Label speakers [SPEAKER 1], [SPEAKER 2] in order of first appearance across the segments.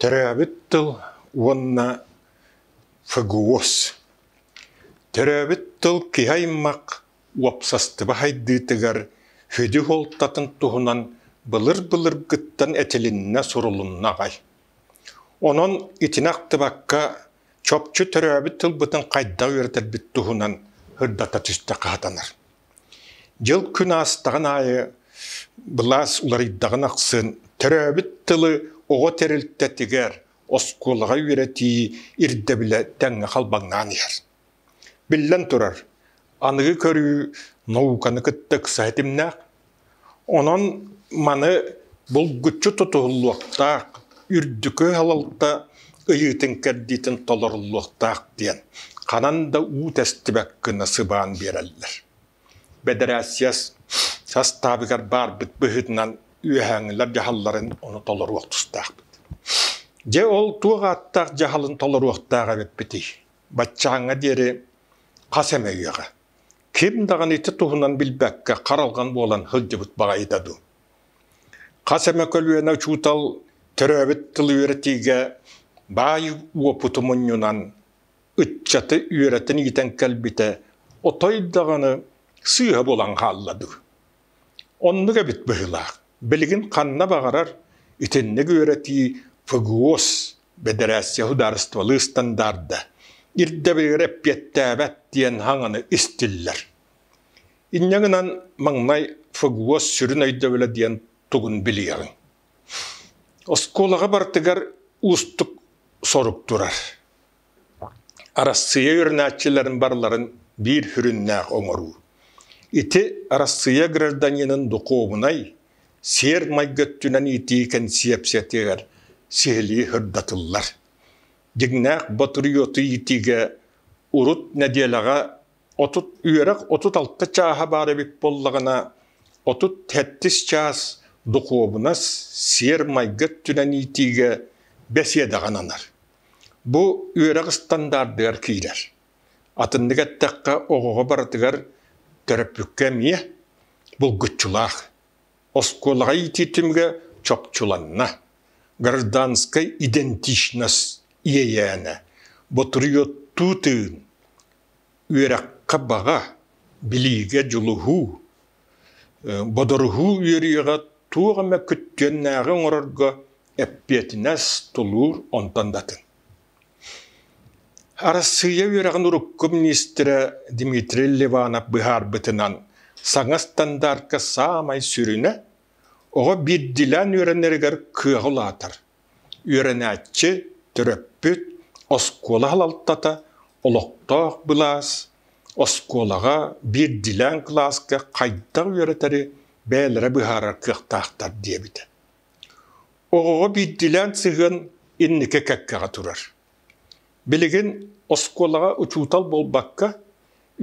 [SPEAKER 1] Төрөөбүт тыл уонна ФГУОС Төрөөбүт тыл киһи-аймах уопсастыба сайдыытыгар сүдү суолтатын туһунан былыр-былыргыттан этилиннэ, сурулунна аҕай. Онон итини ахтыбакка, чопчу төрөөбүт тылбытын хайдах үөрэтэрбит туһунан сырдата түстэ хаатанар. Дьыл күн аастаҕын аайы былаас уларыйдаҕын ахсын төрөөбүт тылы оҕо тэрилтэтигэр, оскуолаҕа үөрэтии ирдэбилэ тэҥҥэ халбаҥнаан иһэр. Биллэн турар, аныгы көрүү науканы кытта ыкса ситимнээх. Онон маны булгуччу тутуһуллуохтаах, үрдүкү салалта ыйыытын-кэрдиитин толоруллуохтаах диэн ханан да уу тэстибэт гына сыбаан биэрэллэр. Бэдэрээссийэ састаабыгар баарбыт быһыытынан үөһээҥилэр дьаһалларын ону толоруох тустаахпыт. Дьэ ол туох ааттаах дьаһалын толоруохтаах эбиппитий? Баччааҥҥа диэри хас эмэ үйэҕэ. ким даҕаны ити туһунан билбэккэ харалҕан буолан сылдьыбыт баҕайыта дуу хас эмэ көлүөнэ учуутал төрөөбүт тылы үөрэтиигэ баай уопуту мунньунан ыччаты үөрэтэн иитэн кэлбитэ отой даҕаны сыыһа булан хаалла дуу Оннук эбит быһыылаах. Билигин ханна баҕарар итинник үөрэтии ФГУОС, бэдэрээссийэ судаарыстыбалыы ыстандаарда, ирдэбилигэр эппиэттээбэт диэн хаҥаны истиллэр. Инньэ гынан маҥнай ФГУОС сүрүн өйдөбүлэ диэн тугун билиэҕиҥ? Оскуолаҕа барытыгар уустук сорук турар. Арассыыйа үөрэнааччыларын барыларын биир сүрүннээх оҥоруу. Ити Арассыыйа гражданинын духуобунай, сиэр-майгы өттүнэн иитии кэнсиэпсийэтигэр сиһилии сырдатыллар. Дьиҥнээх ботуруйуоту иитиигэ урут нэдиэлэҕэ отут үөрэх отут алта чааһа баар эбит буоллаҕына, отут сэттис чаас духуобунас, сиэр-майгы өттүнэн иитиигэ бэсиэдэҕэ ананар. Бу үөрэх ыстандаардыгар киирэр. Атыннык эттэххэ, оҕоҕо барытыгар төрөппүккэ эмиэ булгуччулаах. Оскуолаҕа иитии түмүгэ чопчуланна. Гражданскай идентичность иэйээнэ, ботуруйуоттуу тыын, үөрэххэ баҕа, билиигэ дьулуһуу, Бодоруһуу үөрүйэҕэ туох эмэ күттүөннээҕи оҥорорго эппиэтинэс, тулуур онтон да атын. Арассыыйа үөрэҕин урукку миниистирэ Дмитрий Ливанов быһаарбытынан, саҥа стандартка саамай сүрүнэ, оҕо биирдиилээн үөрэнэригэр кыаҕы улаатар, Үөрэнээччи, төрөппүт, оскуола салалтата, олохтоох былаас, оскуолаҕа биирдиилээн кылааска хайдах үөрэтэри бэйэлэрэ быһаарар кыахтаахтар диэбитэ. Оҕоҕо биирдиилээн сыһыан инники кэккэҕэ турар. Билигин оскуолаҕа учуутал буолбакка,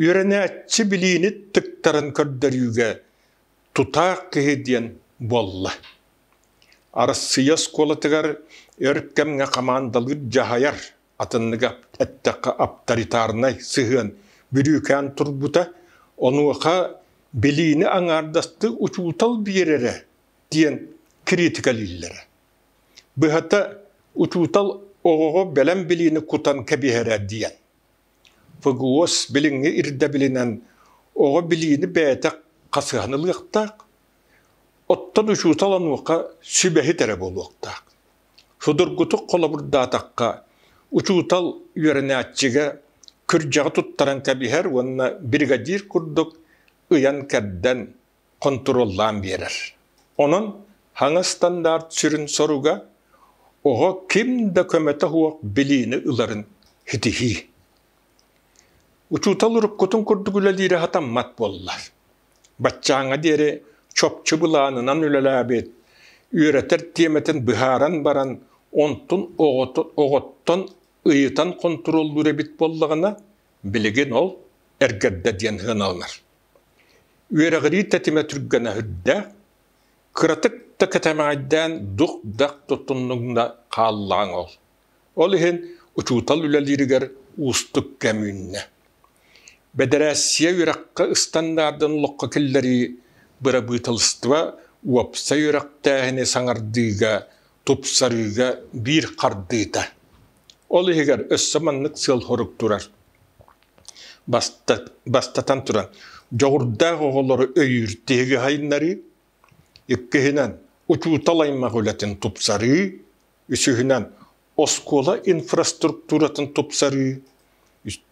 [SPEAKER 1] үөрэнээччи билиини тыктарын көрдөрүүгэ тутаах киһи диэн буолла. Арассыыйа оскуолатыгар өр кэмҥэ хамаандалыыр дьаһайар, атынныга эттэххэ авторитарнай сыһыан бүрүүкээн турбута, онуоха билиини аҥаардастыы учуутал биэрэрэ диэн кириитикэлииллэрэ. Быһата, учуутал оҕоҕо бэлэм билиини кутан кэбиһэрэ диэн. ФГОС билиҥҥи ирдэбилинэн оҕо билиини бэйэтэ хасыһан ылыахтаах, оттон учуутал онуоха сүбэһит эрэ буолуохтаах. Судургутук холобурдаатахха, учуутал үөрэнээччигэ кырдьаҕы туттаран кэбиһэр уонна бригадир курдук ыйан-кэрдэн, хонтуруоллаан биэрэр. Онон хаҥа стандарт сүрүн соруга оҕо ким да көмөтө суох билиини ыларын ситиһии. Учуутал уруккутун курдук үлэлиирэ сатаммат буоллар. Баччааҥҥа диэри чопчу былаанынан үлэлээбит, үөрэтэр тиэмэтин быһааран баран, онтун оҕоттон ыйытан хонтуруоллуур эбит буоллаҕына, билигин ол эргэрдэ диэн сыаналанар. Үөрэҕирии тэтимэ түргэнэ иһирдэ, кыратык да кэтэмэҕэйдээн дух-дах туттуннугуна хааллаҕыҥ ол. Ол иһин учуутал үлэлииригэр уустук кэм үүннэ. Бэдэрээссийэ үөрэххэ ыстандардын олоххо киллэрии, бырабыыталыстыба уопсай үөрэхтээһини саҥардыыга, тупсарыыга биир хардыыта. Ол иһигэр өссө маннык сыал-сорук турар: Бастатан туран, дьоҕурдаах оҕолору өйүүр-тиһиги сайыннарыы, иккиһинэн, учуутал аймах үлэтин тупсарыы, үсүһүнэн, оскуола инфраструктуратын тупсарыы,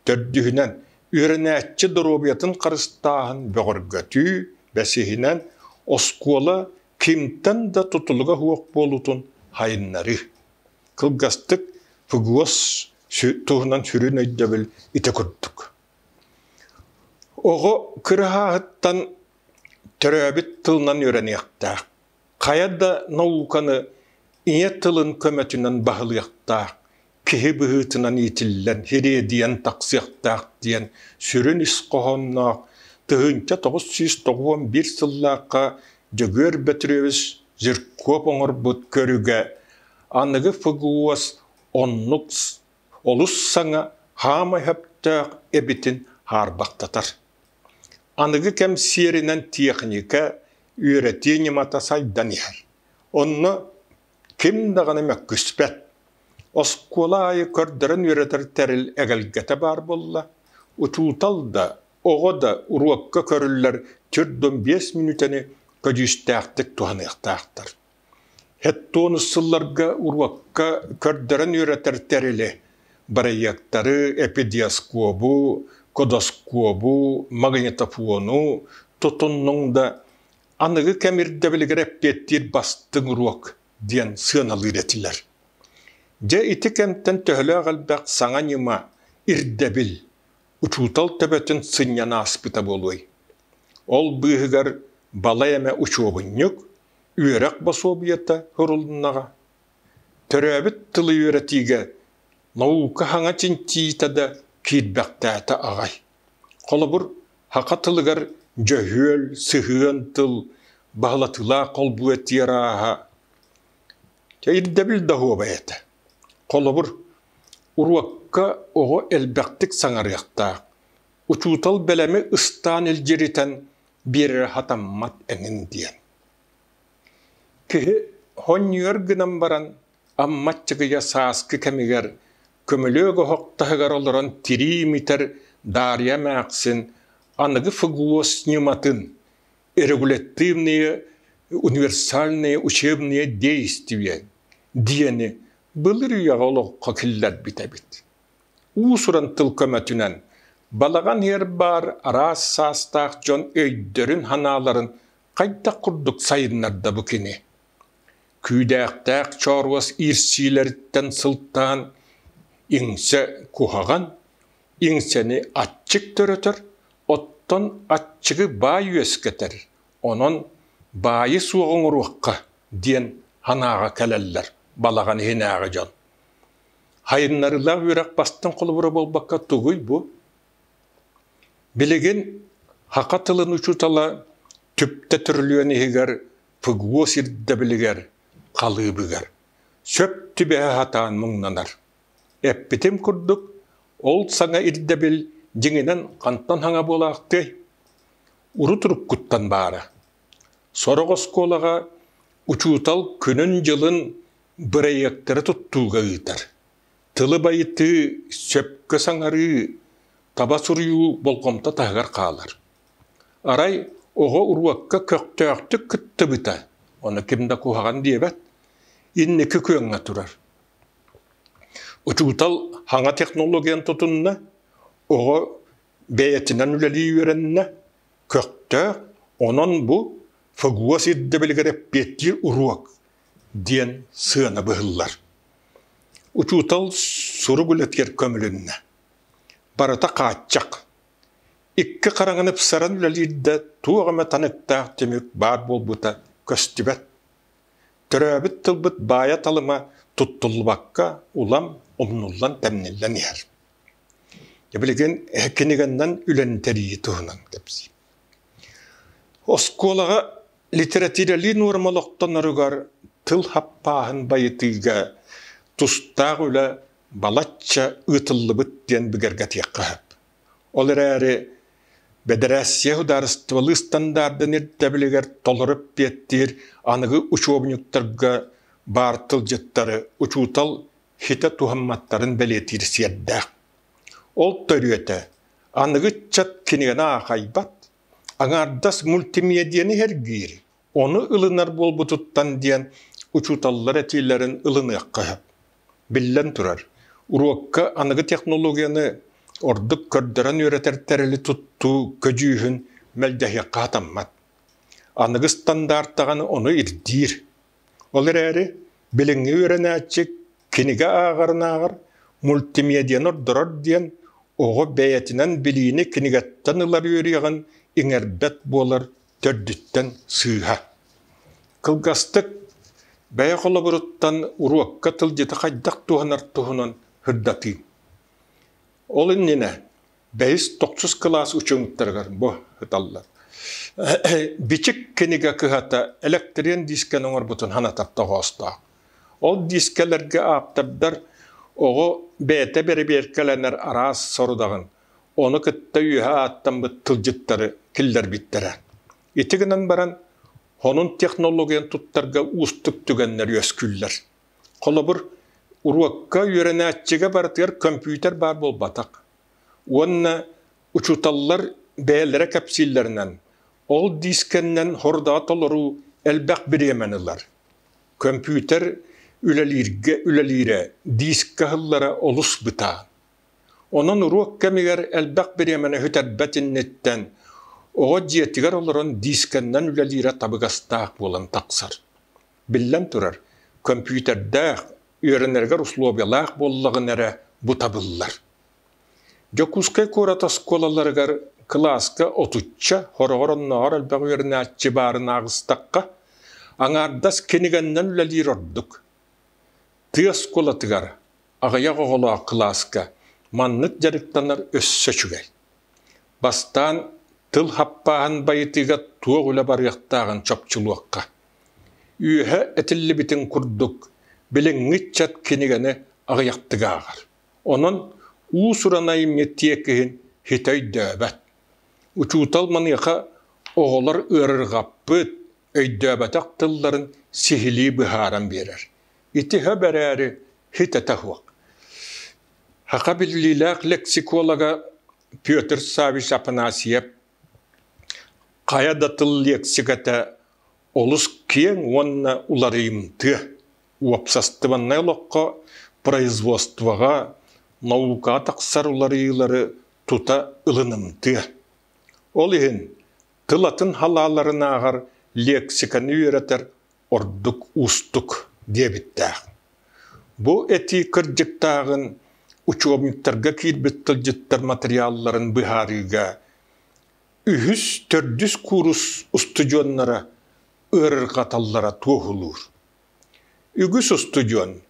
[SPEAKER 1] төрдүһүнэн, үөрэнээччи доруобуйатын харыстааһын бөҕөргөтүү, бэсиһинэн, оскуола кимтэн да тутулуга суох буолуутун сайыннарыы. Кылгастык ФГОС туһунан сүрүн өйдөбүл ити курдук. Оҕо кыраһаһыттан төрөөбүт тылынан үөрэниэхтээх. Хайа да науканы ийэ тылын көмөтүнэн баһылыахтаах, киһи быһыытынан иитиллэн, хириэдийэн тахсыахтаах диэн сүрүн ис хоһоонноох тыһыынча тоҕус сүүс тоҕуон сыллаахха Дьөгүөр Бөтүрүөбүс Жирков оҥорбут көрүгэ аныгы ФГУОС оннук олус саҥа хаамай өптөөх эбитин хаарбахтатар. Аныгы кэм сиэринэн техника үөрэтии ньымата сайдан иһэр. Онно ким даҕаны мөккүспэт. Оскуола аайы көрдөрөн үөрэтэр тэрил эгэлгэтэ баар буолла. Учуутал да, оҕо да уруокка көрүллэр түр биэс мүнүүтэни көдьүүстээхтик туһаныахтаахтар. Һэттуонус сылларга уруокка көрдөрөн үөрэтэр тэрили, бырайыактары, эпидиоскуобу, кодоскуобу, магнитофону тутуннуҥ да, аныгы кэм ирдэбилигэр эппиэттиир бастыҥ уруок диэн сыаналыыр этилэр. Дьэ, ити кэмтэн төһөлөөх элбэх саҥа ньыма, ирдэбил, учуутал төбөтүн сынньан ааспыта буолуой? Ол быыһыгар балай эмэ учуобунньук, үөрэх босуобуйата сурулуннаҕа, төрөөбүт тылы үөрэтиигэ наука саҥа чинчийиитэ да киирбэхтээтэ аҕай. Холобур, саха тылыгар дьөһүөл, сыһыан тыл баһылатыылаах холбуу этиэр ааһа. Чэ, ирдэбил да уоба этэ. Холобур, уруокка оҕо элбэхтик саҥарыахтаах. Учуутал бэлэми ыстаан илдьиритэн биэрэрэ сатаммат эҥин диэн. Киһи хонньуйар гынан баран аммат чыгыйа сааскы кэмигэр көмөлөөх оһох таһыгар олорон тирии имитэр Дарья эмээхсин аныгы фуглос ньыматын регулятивные универсальные учебные действия диэни былыр үйэҕэ олоххо киллэрбит эбит. уус-уран тыл көмөтүнэн балаҕан иһэр баар араас саастаах дьон өйдөрүн-санааларын хайдах курдук сайыннарда бу кини? Күүдээхтээх чооруос иирсиилэриттэн сылтаан иҥсэ куһаҕан, иҥсэни аччык төрөтөр, оттон аччыгы баай үөскэтэр, онон баайы суох оҥоруохха диэн санааҕа кэлэллэр балаҕан иһинээҕи дьон. Хайыннарыылаах үөрэх бастыҥ холобура буолбакка тугуй бу? Билигин саха тылын учуутала түптэ төрүлүөн иһигэр ПГУО сирдэбилигэр, халыыбыгар сөп түбэһэ сатаан муҥнанар. Эппитим курдук, ол саҥа ирдэбил дьиҥинэн хантан саҥа буолаахтыай? Урут-уруккуттан баара. Сорох оскуолаҕа учуутал күнүн-дьылын бырайыактары туттууга ыытар, тылы байытыы, сөпкө саҥарыы, таба суруйуу болҕомто таһыгар хаалар. Арай оҕо уруокка көхтөөхтүк кыттыбыта, ону ким да куһаҕан диэбэт, инники күөҥҥэ турар. Учуутал хаҥа технологияны тутунна, оҕо бэйэтинэн үлэлии үөрэннэ, көхтөөх, онон бу ФГУО сирдэбилигэр эппиэттиир уруок, диэн сыана быһыллар. Учуутал сурук үлэтигэр көмүлүннэ. Барыта хааччах. Икки хараҥаны ыпсаран үлэлиир да туох эмэ таныктаах түмүк баар буолбута көстүбэт. Төрөөбүт тылбыт баайа-талыма туттуллубакка улам умнуллан-тэмниллэн иһэр. Билигин киниганнан үлэн тэрийии туһунан кэпсиим. Оскуолаҕа Литэрэтиирэлии нуорма олохтоноругар тыл хаппааһын байытыыга тустаах үлэ балачча ыытыллыбыт диэн бигэргэтиэххэ сөп. Ол эрээри Бэдэрээссийэ судаарыстыбалыы ыстандардын ирдэбилигэр толору эппиэттиир аныгы учуобунньуктарга баар тылдьыттары учуутал ситэ туһамматтарын бэлиэтиир сиэрдээх. Ол төрүөтэ аныгы ыччат кинигэни аахайбат, Аҥаардас мультимиэдиэни сэргиир, ону ылынар буолбутуттан диэн учууталлар этиилэрин ылыныахха сөп. Биллэн турар, уруокка аныгы технологияны ордук көрдөрөн үөрэтэр тэрили туттуу көдьүүһүн мэлдьэһиэххэ хатаммат. Аныгы стандарт даҕаны ону ирдиир. Ол эрээри билиҥҥи үөрэнээччи кинигэ ааҕарынааҕар мультимедианы ордорор диэн оҕо бэйэтинэн билиини кинигэттэн ылар үөрүйэҕин иҥэрбэт буолар төрдүттэн сыыһа. Кылгастык бэйэ холобуруттан уруокка тылдьыты хайдах туһанар туһунан сырдатыым. Ол иннинэ бэйис тохсус кылаас учуҥуттарыгар бу ыталлар. Бичик кинигэ кыһата электриен диискэни оҥорбутун ханатар тоҕоостоох. Ол диискэлэргэ ааптардар оҕо бэйэтэ бэрэбиэркэлэнэр араас сорудаҕын ону кытта үөһэ ааттаммыт тылдьыттары киллэрбиттэрэ. Ити гынан баран, хонун технологиян туттарга уустук түгэннэр үөскүүллэр. Холобур, уруокка үөрэнээччигэ барытыгар көмпүүтэр баар буолбатах. Уонна учууталлар бэйэлэрэ кэпсииллэринэн, ол диискэннэн хорудаҕа толоруу элбэх бириэмэни ылар. Көмпүүтэр үлэлииргэ үлэлиирэ диискэ аһыллара олус бытаан. Онон уруок кэмигэр элбэх бириэмэни бүтэрбэт инниттэн оҕо дьиэтигэр олорон диискэннэн үлэлиирэ табыгастаах буолан тахсар. Биллэн турар, көмпүүтэрдээх үөрэнэригэр услуобуйалаах буоллаҕына эрэ бу табыллар. Дьокуускай куорат оскуолаларыгар кылааска отучча хороҕор оннооҕор элбэх үөрэнээччи баарын аҕыстахха, аҥаардас кинигэннэн үлэлиир ордук. Тыа оскуолатыгар аҕыйах оҕолоох кылааска маннык дьарыктанар өссө үчүгэй. Бастаан тыл хаппааһын байытыыга туох үлэ барыахтааҕын чопчулуохха. Үөһэ этиллибитин курдук, билиҥҥи ыччат кинигэни аҕыйахтык ааҕар, онон уус-уран айымньы тиэкиһин ситэ өйдөөбөт. Учуутал маныаха оҕолор ыарырҕаппыт, өйдөөбөтөх тылларын сиһилии быһааран биэрэр. Итиһэ бэрээри ситэтэ суох. Саха биллиилээх лексиколога Петр Саввич Афанасьев Хайа да тыл лиэксикэтэ олус киэҥ уонна уларыйымтыа. Уопсастыбаннай олоххо, производствоҕа, наукаҕа тахсар уларыйыылары тута ылынымтыа. Ол иһин тыл атын халааларын ааҕар, лиэксикэни үөрэтэр ордук уустук диэбиттээх. Бу этии кырдьыктааҕын учебниктарга киирбит тылдьыттар материалларын быһаарыыга үһүс, төрдүс куурус устудьуоннара ыарырҕаталлара туоһулуур. Үгүс устудьуон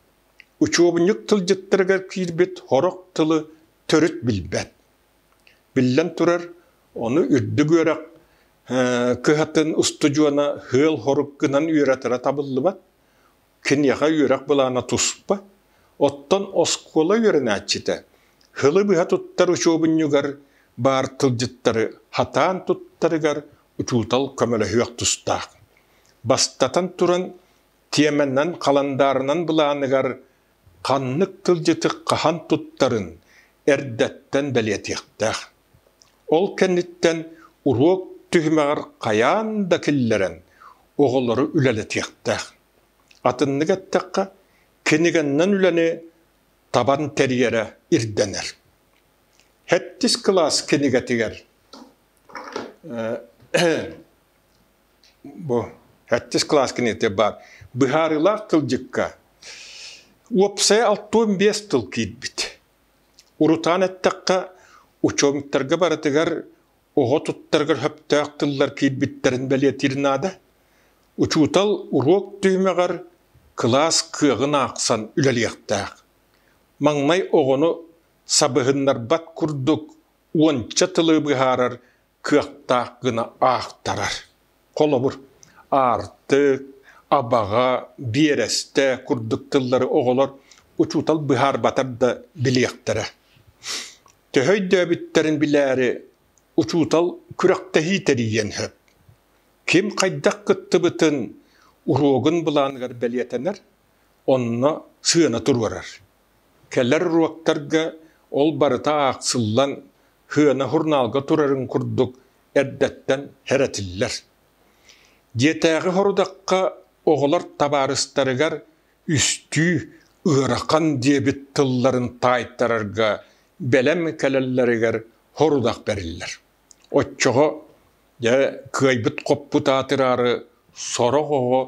[SPEAKER 1] учуобунньук тылдьыттарыгар киирбит сорох тылы төрүт билбэт, Биллэн турар, ону үрдүк үөрэх кыһатын устудьуона ыал-хорук гынан үөрэтэрэ табыллыбат. Киниэхэ үөрэх былаана туспа. Оттон оскуола үөрэнээччитэ һылы быһа туттар учуобунньугар баар тылдьыттары хатаан туттарыгар учуутал көмөлөһүөх тустаах. Бастатан туран, тиэмэнэн, халандаарынан былааныгар ханнык кырдьык хаһан туттарын эрдэттэн бэлиэтиэхтээх. Ол кэнниттэн уруок түһүмэҕэр хайаан да киллэрэн оҕолору үлэлэтиэхтээх. Атыннык эттэххэ, кинигэннэн үлэни табан тэрийэрэ ирдэнэр. Хэттис кылаас кинигэтигэр Бу сэттис кылаас киниэтэ баар быһаарыылаах тылдьыкка уопсайа алтуон биэс тыл киирбит. Урутаан эттэххэ, учуомуттарга барытыгар оҕо туттарыгар сөптөөх тыллар киирбиттэрин бэлиэтиир наада. Учуутал уруок түһүмэҕэр кылаас кыаҕын аахсан үлэлиэхтээх. Маҥнай оҕону сабыһыннарбат курдук уонча тылы быһаарар кыахтаах гына аахтарар. Холобур, аартык, абаҕа, биэрэстэ курдук тыллары оҕолор учуутал быһаарбатар да билиэхтэрэ. Төһө өйдөөбүттэрин билээри учуутал күрэхтэһии тэрийиэн сөп. Ким хайдах кыттыбытын уруогун былааныгар бэлиэтэнэр, онно сыана туруорар. Кэлэр уруоктарга ол барыта аахсыллан, хыана хурнаалга турарын курдук эрдэттэн хэрэтиллэр. Дьиэтээҕи сорудахха оҕолор табаарыстарыгар үстүү «ыарахан» диэбит тылларын таайтарарга бэлэм кэлэллэригэр сорудах бэриллэр. Оччоҕо, дьэ, кыайбыт-хоппут аатыраары сорох оҕо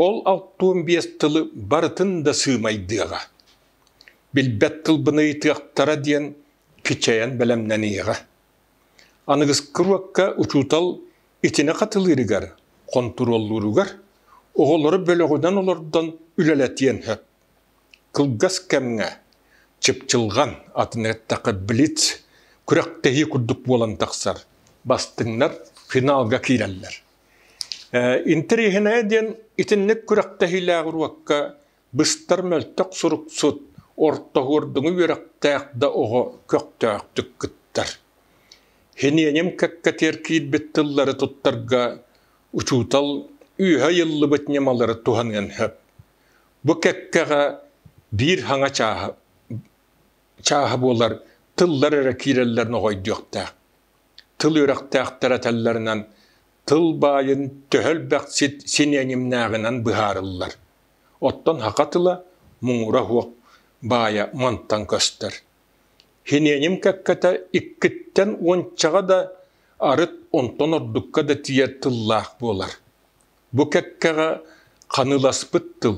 [SPEAKER 1] ол алтыан биэс тылы барытын да сыымайдыаҕа, билбэт тылбын ыйытыахтара диэн кичэйэн бэлэмнэниэҕэ. Аныгыскы уокка учуутал итини хатылыырыгар, хонтуруоллууругар оҕолору бөлөҕүнэн олордон үлэлэтиэн сөп. Кылгас кэмҥэ чыпчылҕан, атын эттэххэ блиц, күрэхтэһии курдук буолан тахсар, бастыҥнар финалга киирэллэр. Интэриэһинэйэ диэн итинник күрэхтэһиилээх уруокка быстар мөлтөх суруксут, ортоһуордуҥу үөрэхтээх да оҕо көхтөөхтүк кыттар. Һиниэним кэккэтигэр киирбит тыллары туттарга учуутал үөһэ ыйыллыбыт ньымалары туһаныан сөп. Бу кэккэҕэ биир хаҥа чааһа, чааһа буолар тыллар эрэ киирэллэрин оҕойдуохтаах. Тыл үөрэхтээхтэр этэллэринэн, тыл баайын төһө элбэхсит синиэнимнээҕинэн быһаарыллар. Оттон саха тыла муҥура суох баайа мантан көстөр. Синиэним кэккэтэ иккиттэн уончаҕа да, арыт онтон ордукка да тиийэр тыллаах буолар. Бу кэккэҕэ ханыыласпыт тыл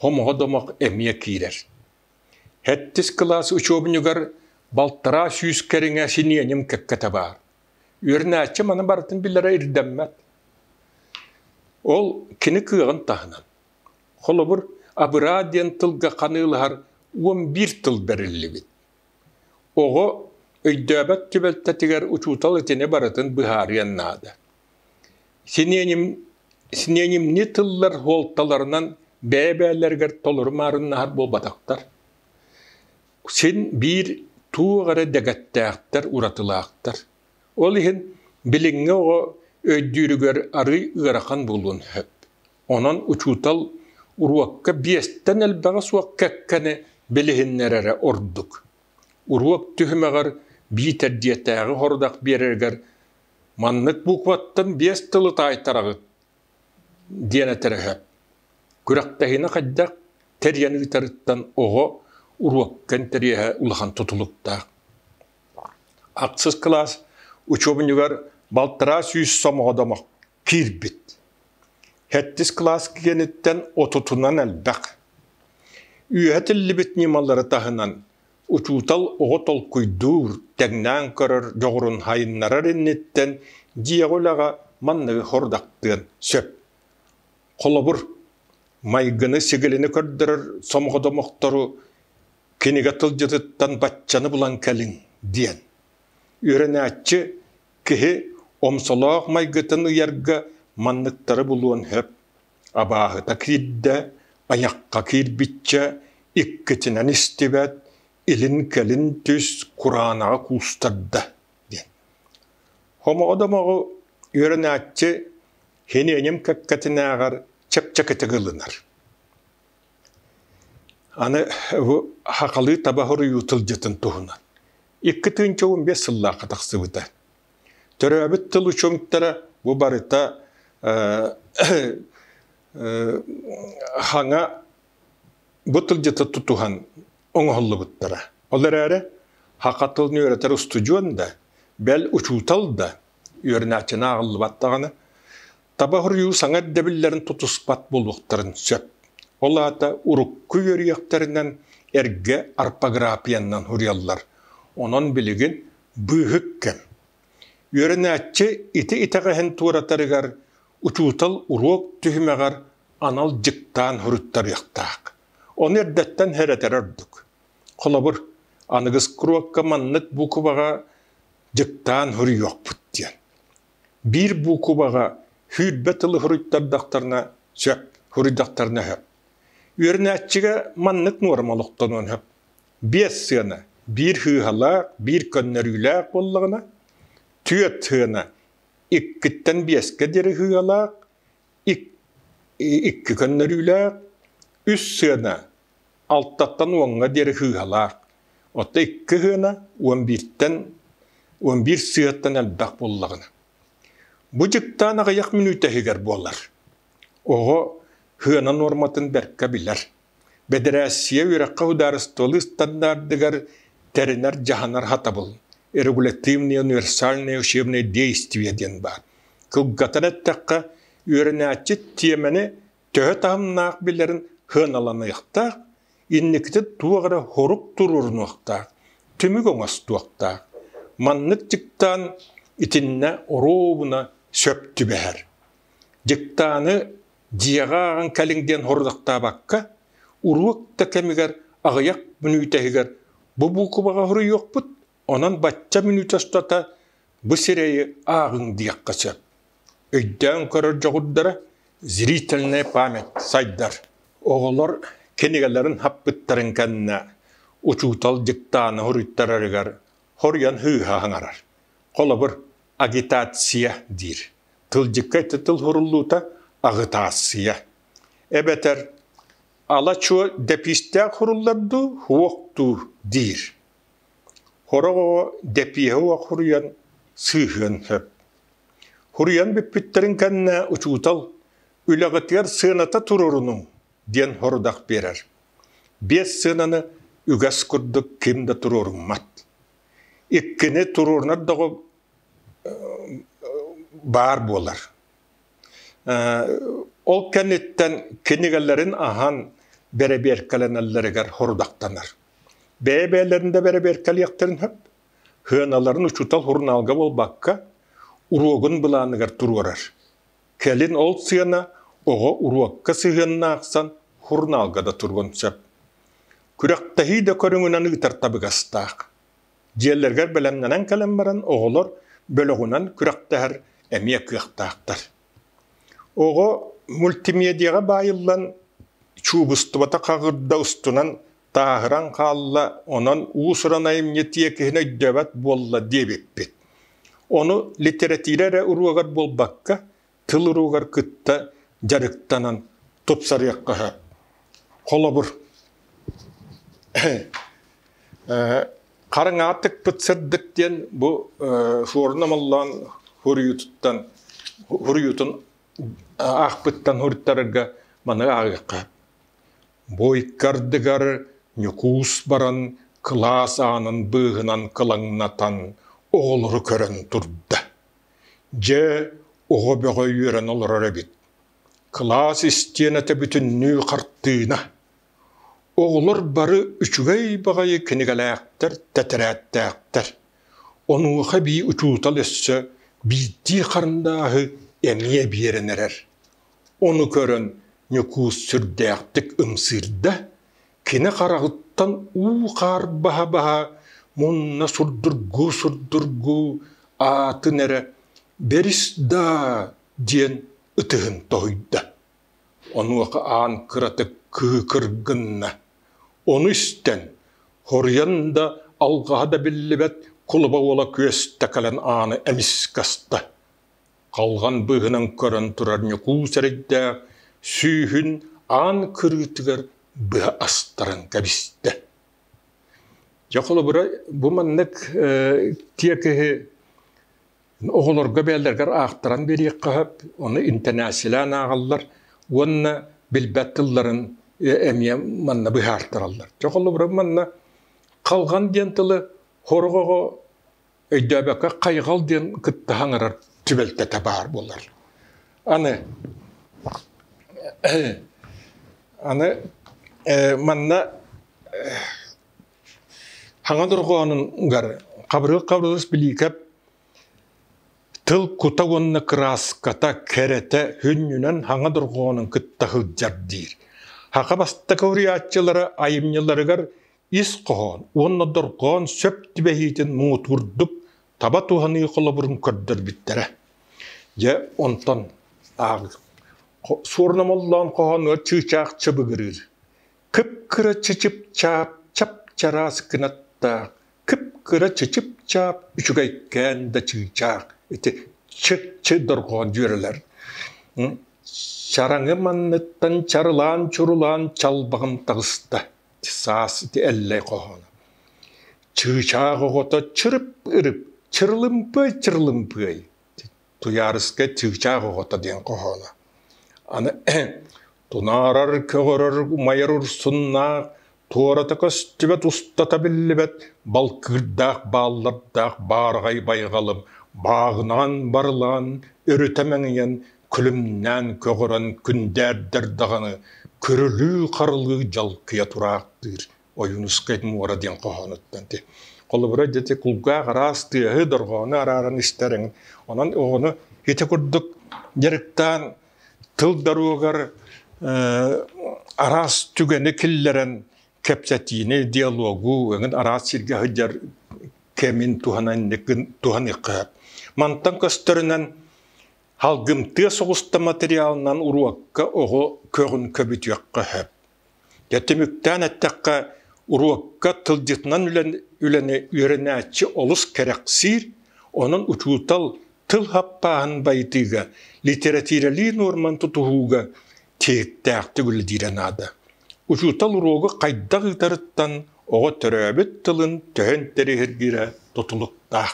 [SPEAKER 1] хомоҕо-домох эмиэ киирэр. Хэттис кылаас учуобунньугар балтараа сүүс кэриҥэ синиэньим кэккэтэ баар. Үөрэнээччи маны барытын билэрэ ирдэммэт. Ол кини кыаҕын таһынан. Холобур, абыраа диэн тылга ханыылаһар уон биир тыл бэриллибит. Оҕо өйдөөбөт түбэлтэтигэр учуутал итини барытын быһаарыан наада. Синиэним синиэнимнии тыллар суолталарынан бэйэ-бэйэлэригэр толору маарыннаһар буолбатахтар. Син биир туох эрэ дэгэттээхтэр, уратылаахтар. Ол иһин билиҥҥи оҕо өйдүүрүгэр арыый ыарахан буолуон сөп. Онон учуутал уруокка биэстэн элбэҕэ суох кэккэни билиһиннэрэрэ ордук. Уруок түһүмэҕэр биитэр дьиэтээҕи сорудах биэрэригэр Маннык букваттан биэс тылы таайтараҕыт диэн этэрэ сөп. Күрэхтэһиини хайдах тэрийэн ыытарыттан оҕо уруокка интэриэһэ улахан тутулуктаах. Ахсыс кылаас учуобунньугар балтараа сүүс сомоҕо домох киирбит. Сэттис кылаас киэниттэн отутунан элбэх. Үөһэ тиллибит ньымалары таһынан Учуутал оҕо толкуйдуур, тэҥнээн көрөр дьоҕурун сайыннарар инниттэн дьиэҕэ үлэҕэ манныгы хорудахтыан сөп. Холобур, майгыны-сигилини көрдөрөр сомоҕо домохтору кинигэ тылдьытыттан баччаны булан кэлиҥ диэн. Үөрэнээччи киһи омсолоох майгытын ыйарга манныктары булуон сөп. абааһыта киирдэ, айахха киирбиччэ, иккитинэн истибэт, илин-кэлин түс, кураанаҕа куустарда диэн. Хомоҕо-домоҕу үөрэнээччи хиниэньим кэккэтинээҕэр чэпчэкитик ылынар. Аны бу хахалыы таба хоруйуу тылдьытын туһунан. Икки тыынча уон биэс сыллаахха тахсыбыта. Төрөөбүт тыл учуҥтара бу барыта хаҥа бу тылдьыта тутуһан оҥоһуллубуттара. Ол эрээри хаха тылын үөрэтэр устудьуон да, бэл учуутал да үөрэнээччинэ ааҕыллыбат даҕаны таба хоруйуу саҥа ирдэбиллэрин тутуспат буолуохтарын сөп. Ол аата урукку үөрүйэхтэринэн эргэ арпаграфияннан суруйаллар. Онон билигин быыһык кэм. Үөрэнээччи ити итэҕэһин туоратарыгар учуутал уруок түһүмэҕэр анал дьыктаан суруттарыахтаах. Ону эрдэттэн herэтэр ордук. Холобур, аныгыс круокка маннык букваҕа дьыктаан суруйуохпут диэн. Биир буукубаҕа сүүрбэ тылы суруйтардахтарына сөп, суруйдахтарына сөп. Үөрэнээччигэ маннык нуорма олохтонуон сөп. Биэс сыана биир сыыһалаах, биир көннөрүүлээх буоллаҕына, түөрт сыана иккиттэн биэскэ диэри сыыһалаах, Икки көннөрүүлээх, үс сыана алтаттан уоҥҥа диэри сыыһалаах. Оттон икки сыана уон бииртэн уон биир сыһыаттан элбэх буоллаҕына. Бу дьыктаан аҕыйах мүнүүтэ иһигэр буолар. Оҕо сыана нуорматын бэркэ билэр. Бэдэрээссийэ үөрэххэ судаарыстыба ыстандардыгар тэринэр-дьаһанар хатабыл «Регулятивные универсальные учебные действия» диэн баар. Кылгатан эттэххэ, үөрэнээччи тиэмэни төһө таһымнаах билэрин сыаналаныахтаах, инникитэ туох эрэ сорук туруорунуохтаах, түмүк оҥостуохтаах. Маннык дьыктаан итиннэ оруобуна сөп түбэһэр. Дьыктааны дьиэҕэ ааҕан кэлиҥ диэн хорудахтаабакка, уруок да кэмигэр аҕыйах мүнүүтэһигэр бу буукубаҕа хоруйуохпут, онон бачча мүнүүтэ устата бу сирэйи ааҕыҥ диэххэ сөп. Өйдөөн көрөр дьоҕурдара зрительная память сайдар. Оҕолор кинигэлэрин хаппыттарын кэннэ учуутал дьыктааны хоруйтарарыгар хоруйан һыыһа хаҥарар. Холобур, агитация диир. тылдьыкка ette тыл суруллуута аҕытаассыйа эбэтэр ала чуо дэпиистээх суруллар дуу уох дуур диир сорох оҕо дэпиэһэ уох суруйан сыыһыан сөп суруйан бүппүттэрин кэннэ учуутал үлэҕитигэр сыаната туруоруnuҥ диэн сорудах биэрэр биэс сыананы үгэс курдук ким да туруоруҥмат иккини туруорунар доҕо баар буолар. Ол кэнниттэн кинигэлэрин аһан бэрэбиэркэлэнэллэригэр хорудахтанар. Бэйэ-бэйэлэрин да бэрэбиэркэлиэхтэрин сөп, сыаналарын учуутал сурунаалга буолбакка, уруогун былааныгар туруорар. Кэлин ол сыана оҕо уруокка сыһыанна ахсан сурунаалга да туруон сөп. Күрэхтэһии да көрүҥүнэн ыытар табыгастаах. Дьиэлэригэр бэлэмнэнэн кэлэн баран оҕолор бөлөҕүнэн күрэхтэһэр эмиэ кыахтаахтар. Оҕо мультимедиаҕа баайыллан чуубустубата хаҕырда устунан тааһыран хаалла, онон уус-уран айымньы тиэкиһин өйдөөбөт буолла диэбиппит. Ону литэрэтиирэ эрэ уруогар буолбакка, тыл уруугар кытта дьарыктанан тупсарыахха сөп. Холобур, хараҥа атыкпыт сырдык диэн бу суорна моллоон хуруйутуттан хуруйутун аахпыттан хуруттарарга маны ааҕыахха. Буйкардыгар Ньукуус баран кылаас аанын быыһынан кылаҥнатан оҕолору көрөн турда. Дьэ, оҕо бөҕө үөрэн олорор эбит. Кылаас истиэнэтэ бүтүннүү хартыына. Оҕолор бары үчүгэй баҕайы кинигэлээхтэр, тэтэрээттээхтэр. Онуоха эбии учуутал өссө биирдии харандааһы эмиэ биэрэн эрэр. Ону көрөн Ньукуус сүрдээхтик ымсыырда, Кини хараҕыттан уу-хаар баһа-баһа мунна сурдургуу-сурдургуу аатын эрэ «Бэрис даа!» диэн ытыһын тоһуйда. Онуоха аан кыратык кыыкыр гынна. Ону истэн, хоруйан да, алҕаһа да биллибэт кулуба уола күөстэ кэлэн ааны эмискэ аста: Халҕан быыһынан көрөн турар Ньукул сэрэйдээх сүүһүн аан кырыытыгар быһа астаран кэбистэ Дьэ холобура бу маннык тиэкиһи оҕолорго бэйэлэригэр аахтаран биэриэххэ сөп ону интэнээссилээн ааҕаллар уонна билбэт тылларын эмиэ манна быһаартараллар Дьэ холобура манна халҕан диэн тылы сорох оҕо өйдөөбөккө хайҕал диэн кытта хаҥырар түбэлтэтэ баар буолар. Аны аны манна хаҥа дорҕоонунгар хабырык хабырыс билиикэп тыл кута уонна кырааската кэрэтэ хүннүнэн хаҥа дорҕоонун кытта сылдьар диир. Хаха бастакы уриаччылары айымньыларыгар ис хоһоон уонна дорҕоон сөп түбэһиитин муҥутуурдук таба туһаныы холобурун көрдөрбүттэрэ. Дьэ, онтон ааҕыҥ. Суорнамоллоон хоһооно чыычаах чыбыгырыыр. Кып-кыра чычып-чаап, чап-чараас кынаттаах. Кып-кыра чычып-чаап, үчүгэйкээн да чыычаах. Ити чы-чы дорҕоон дьүөрэлэр. Чараҥы манныттан чарылаан-чурулаан чалбаҕым таҕыста. саас ити эллэй хоһооно. Чыычаах оҕото чырып-ырып, чырылымпыай-чырылымпыай. Туйаарыска чыычаах оҕото диэн хоһооно. Аны тунаарар, көҕөрөр, умайар урсуннаах, туората көстүбэт устата биллибэт балкыырдаах бааллардаах баарҕай байҕалым бааҕынаан барылаан өрүтэ мэҥийэн күлүмнээн көҕөрөн күндээрдэр даҕаны көрүлүү-харылыы дьалкыйа тураахтыыр Ойуунускай муора диэн хоһоонуттан ити. Холобура дьэти кулгаах араас тыаһы дорҕоону арааран истэр эҥин. Онон оҕону ити курдук дьарыктаан тыл даруогар араас түгэни киллэрэн кэпсэтиини, диалогу эҥин араас сиргэ сылдьар кэмин туһананньык туһаныахха. Мантан көстөрүнэн Халгымтыа соҕуста материалынан уруокка оҕо көҕүн көбүтүөххэ сөп. Дьэ түмүктээн эттэххэ, уруокка тылдьытынан үлэн, үлэни үөрэнээччи олус кэрэхсиир, онон учуутал тыл хаппааһын байытыыга, литератиралии нуорман тутуһууга тиһиктээхтик үлэлиирэ наада. Учуутал уруогу хайдах ыытарыттан оҕо төрөөбүт тылын төһөн тэриһиргирэ тутулуктаах.